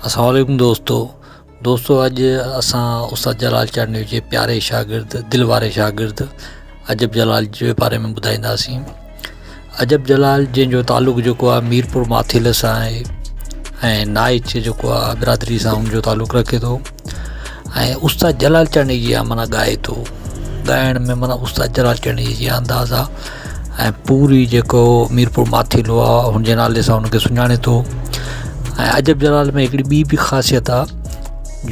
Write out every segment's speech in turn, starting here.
السلام عليڪم دوستو دوستو اڄ اسان استاد جلال چانڊيو جي پياري شاگرد دل واري شاگرد عجب جلال جي باري ۾ ٻڌائينداسين عجب جلال جنهن جو تعلق جيڪو آهي ميرپور ماٿيل سان آهي ۽ نائچ جيڪو آهي برادري سان ان جو تعلق رکي ٿو ۽ استاد جلال چنڙي جي آهيان معنيٰ ڳائي ٿو ڳائڻ ۾ معنيٰ استاد جلال چنڙي جي انداز آ ۽ پوري جيڪو ميرپور ماٿيلو آ هن جي نالي سان هن کي سڃاڻي ٿو ۽ عجب جلال ۾ هڪڙي ٻي به خاصيت آ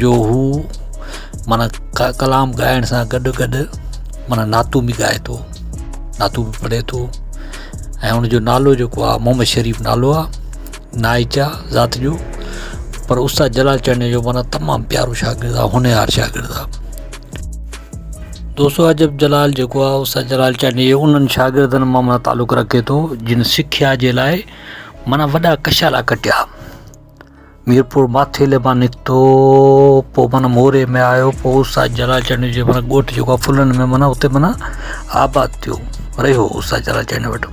جو هو معنيٰ ڪ ڪلام ڳائڻ سان گڏ گڏ معنيٰ نعتون به ڳائي ٿو نعتون به پڙهي ٿو ۽ هن جو نالو جيڪو آ محمد شريف نالو آ نائيڪا ذات جو پر استاد جلال چانڊيو جو مانا تمام پيارو شاگرد آ هونهار شاگرد آ دوستو عجب جلال جيڪو آ استاد جلال چانڊيو انهن شاگردن مان مانا تعلق رکي ٿو جن سکيا جي لاء مانا وڏا ڪشالا ڪٽيا ميرپور ماٿيلي مان نڪتو پو مانا موري ۾ آيو پو استاد جلال چانڊيو جي مانا ڳوٺ جيڪو آ ڦلن ۾ مانا اتي مانا آباد ٿيو رهيو استاد جلال چانڊيو وٽ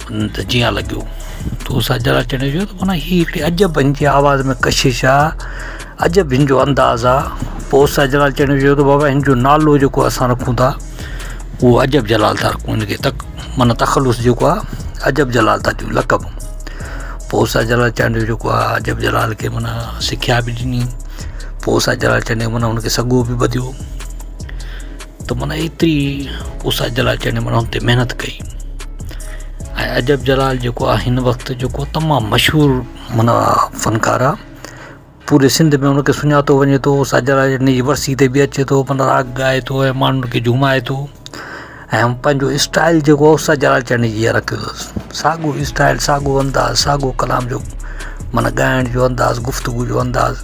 ته جيان لڳيو تو سان جرا چڙي جو ته مانا هي هڪڙي عجب هن جي آواز ۾ ڪشش آهي عجب هن جو انداز آهي پوء سان جرا چڙي جو ته بابا هن جو نالو جيڪو اسان رکون ٿا هو عجب جلال ٿا رکون هن کي تڪ مانا تخلص جيڪو آهي عجب جلال ٿا ڏيون لقب پوء سان جرا چرڻ جو جيڪو آهي عجب جلال کي مانا سکيا بي ڏني پوء سان جرا چرڻ جو مانا هن کي سڳو بي ٻڌيو ته من ايتري اس اجل اچڻ جي معنيٰ ان تي محنت ڪئي ۽ عجب جلال جيڪو آ هن وقت جيڪو تمام مشهور منا فنڪار آ پوري سنڌ ۾ ان کي سڃاتو وڃي ٿو اس اجل ان جي ورسي تي به اچي ٿو منا راڳ ڳائي ٿو ۽ ماڻهن کي جهومائي ٿو ۽ پنهنجو اسٽائل جيڪو اس اجل اچڻ جي جيئرا ڪيو اٿس ساڳو اسٽائل ساڳو انداز ساڳو ڪلام جو منا ڳائڻ جو انداز گفتگو جو انداز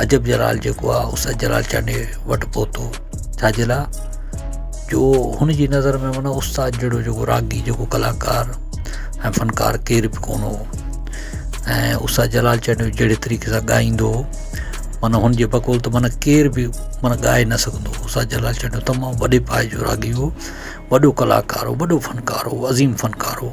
عجب جلال جيڪو آ اس جلال چانڊيو وٽ پهتو ڇاجي لاء جو هن جي نظر ۾ معنيٰ استاد جهڙو جيڪو راڳي جيڪو ڪلاڪار ۽ فنڪار ڪير به ڪونه هو ۽ استاد جلال چانڊيو جهڙي طريقي سان ڳائيندو هو معنيٰ هن جي بقول ته معنيٰ ڪير به معنيٰ ڳائي نه سگهندو هو استاد جلال چانڊيو تمام وڏي پائي جو راڳي هو وڏو ڪلاڪار هو وڏو فنڪار هو عظيم فنڪار هو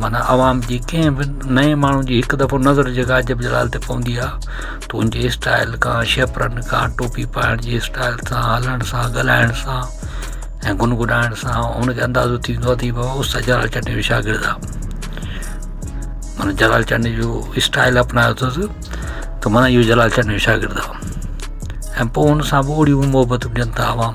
معنيٰ عوام جي ڪنهن به نئين ماڻهو جي هڪ دفعو نظر جيڪا عجب جلال تي پوندي آ ته ان جي اسٽائل کان شيپرن کان ٽوپي پائڻ جي اسٽائل سان هلڻ سان ڳالهائڻ سان ۽ گن گنائڻ سان ان کي اندازو ٿيندو آ ته هي بابا استاد جلال چنڊ جو شاگرد آ معنيٰ جلال چنڊ جو اسٽائل اپنايو اٿس ته معنيٰ اهو جلال چنڊ جو شاگرد آ ۽ پوء ان سان به اوڙيون محبتون ڏين ٿا عوام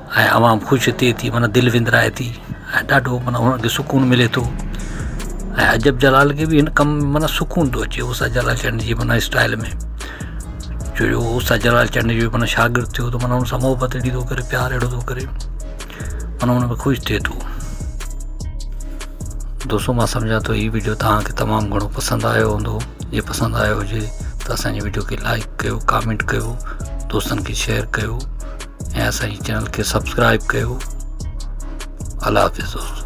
۽ عوام خوش ٿئي ٿي معنيٰ دل وندرائي ٿي ۽ ڏاڍو معنيٰ انهن کي سڪون ملي ٿو ۽ عجب جلال کي بي هن ڪم ۾ معنيٰ سڪون ٿو اچي اوسان جلال چيان جي معنيٰ اسٽائل ۾ جو جو اوسان جلال چيان جو معنيٰ شاگرد ٿيو ته معنيٰ ان سان محبت اهڙي ٿو ڪري پيار اهڙو ٿو ڪري معنيٰ ان ۾ خوش ٿئي ٿو دوستو مان سمجهان ٿو هي ويڊيو توهان کي تمام گهڻو پسند آيو هوندو جي پسند آيو هجي ته اسان جي ويڊيو کي لائڪ ڪيو ڪامينٽ ڪيو دوستن کي شيئر ڪيو ۽ اسان جي چينل کي سبسڪرائب ڪيو الله حافظ دوستو